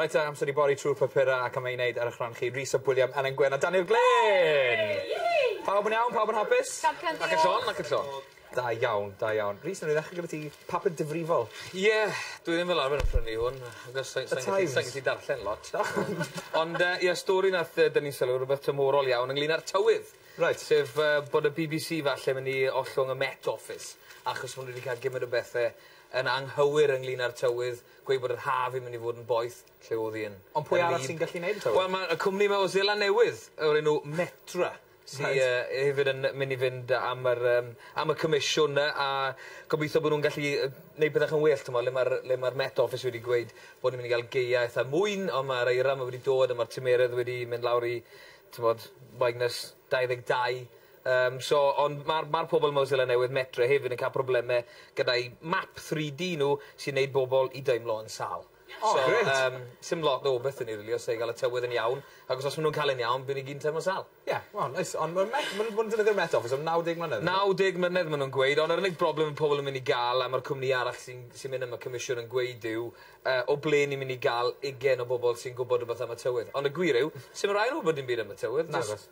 Reit te, amser i bori trwy'r papurau ac am ei wneud, ar eich rhan chi, Rhys ap William, Elen Gwyn a Daniel Glyn! Pawb yn iawn? Pawb yn hapus? Ac yn llon, ac yn llon. Da iawn, da iawn. Rhys, wnawn ni ddechrau gyda ti, papur difrifol. Ie, dwi ddim fel arfer yn prynu hwn, achos sa i'n gallu, sa i'n gallu darllen lot. Ond yy ie, stori nath yy dynnu sylw, rwbeth tymhorol iawn ynglŷn â'r tywydd. Reit. Sef yy bod y bbc falle myn' i ollwng y Met Office, achos ma' nw 'di ca'l gimynt o bethe yn anghywir ynglŷn â'r tywydd, gweud bod yr haf yn mynd i fod yn boeth, lle o'dd hi yn... Ond pwy arall sy'n gallu neud y tywydd? Wel ma' y cwmni 'ma o Seland Newydd o'r enw Metra sy yy yy hefyd yn myn' i fynd yy am yr yym am y comisiwn yy a gobitho bo' nw'n gallu yy neud pethe 'chy'n well t'mo' le ma'r le ma'r Met Office wedi gweud bo' ni myn' i ga'l gaea itha mwyn on' ma'r eira 'ma wedi dod a ma'r tymeredd wedi mynd lawr i t'mod minus dau ddeg dau Yym so ond ma'r ma'r pobol mewn Seland Newydd Metre hefyd yn ca'l probleme gyda'u map three Dee nw sy'n neud bobol i deimlo yn sâl. O grêt. So yym sim lot o bethe ni rili os sai ga'l y tywydd yn iawn agos os ma' nw'n ca'l e'n iawn by' ni gyd yn teimlo sâl. Ie wel neis ond ma'r Met ma' nw ma' nw'n defnyddio'r Met Office am naw deg mlynedd on'd yw e? Naw deg mlynedd ma' nw'n gweud ond yr unig broblem ma' pobol yn myn' i ga'l a ma'r cwmni arall sy'n sy'n myn' am y comisiwn yn gweud yw yy o ble ni myn' i ga'l ugen o bobol sy'n gwbod rwbeth am y tywydd ond y gwir yw sim rai' nw wbod dim byd am y tywydd jyst... Nagos.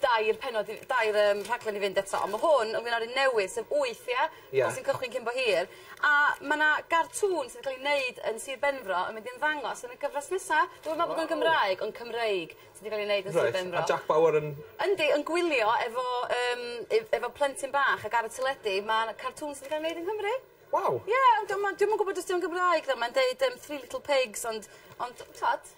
dair pennod i dair yym rhaglen i fynd eto on' ma' hwn ynglŷn â run newydd sef wyth ia? Ia. Fel sy'n cychwyn cyn bo hir a ma' 'na gartŵn sy'n ca'l 'i neud yn Sir Benfro yn mynd i ymddangos yn y gyfres nesa. Dwi'm yn me'wl bod o'n Gymraeg ond Cymreig sy 'di ga'l 'i neud yn Sir Benfro. Reit a Jac Bauer yn... Yndi yn gwylio efo yym ef- efo plentyn bach ag ar y teledu ma' 'na cartŵn sy 'di ga'l 'i neud yn Nghymru. Waw. Ie ond 'di o'm yn 'di o'm yn gwbod os 'di o'n Gymraeg ddo mae'n deud yym three little pigs ond ond t'od?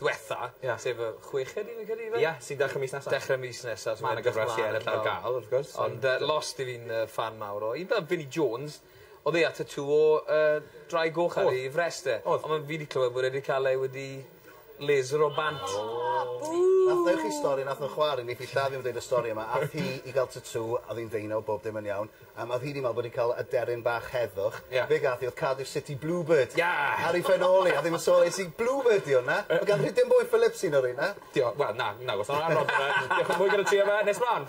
ddwetha. Ia. Sef y chweched rili credu yfe? Ia sy'n dechre mis nesa. Dechre mis nesa so ma' 'na gyfres i ennill ar ga'l wrth gwrs. Ond yy lost i fi'n yy ffan mawr o un fel Vinnie Jones odd e â tatŵ o yy ddraig goch ar ei frest e. Odd. On' ma' fi 'di clywed bod e 'di ca'l e wedi laser o bant. O! O! Bŵ! Nath ddeu' chi stori nath nw chwa'r un neith 'i lladd 'i am deud y stori yma ath hi i ga'l tatŵ a o'dd 'i'n ddeunaw bob dim yn iawn. A ma' rhyd i'n meddwl bod ni'n cael aderyn bach heddwch. Ie. Be' gath 'i odd Cardiff City Bluebird. Ia! Ar 'i phen-ôl 'i a ddim yn sôn es i Bluebird 'di 'wn na? Yy. Ma' gan Rhydian Bwy Phillips un o reina. Dio- wel na nagos. Diolch yn fwy gyda ti am e. Nes mlan.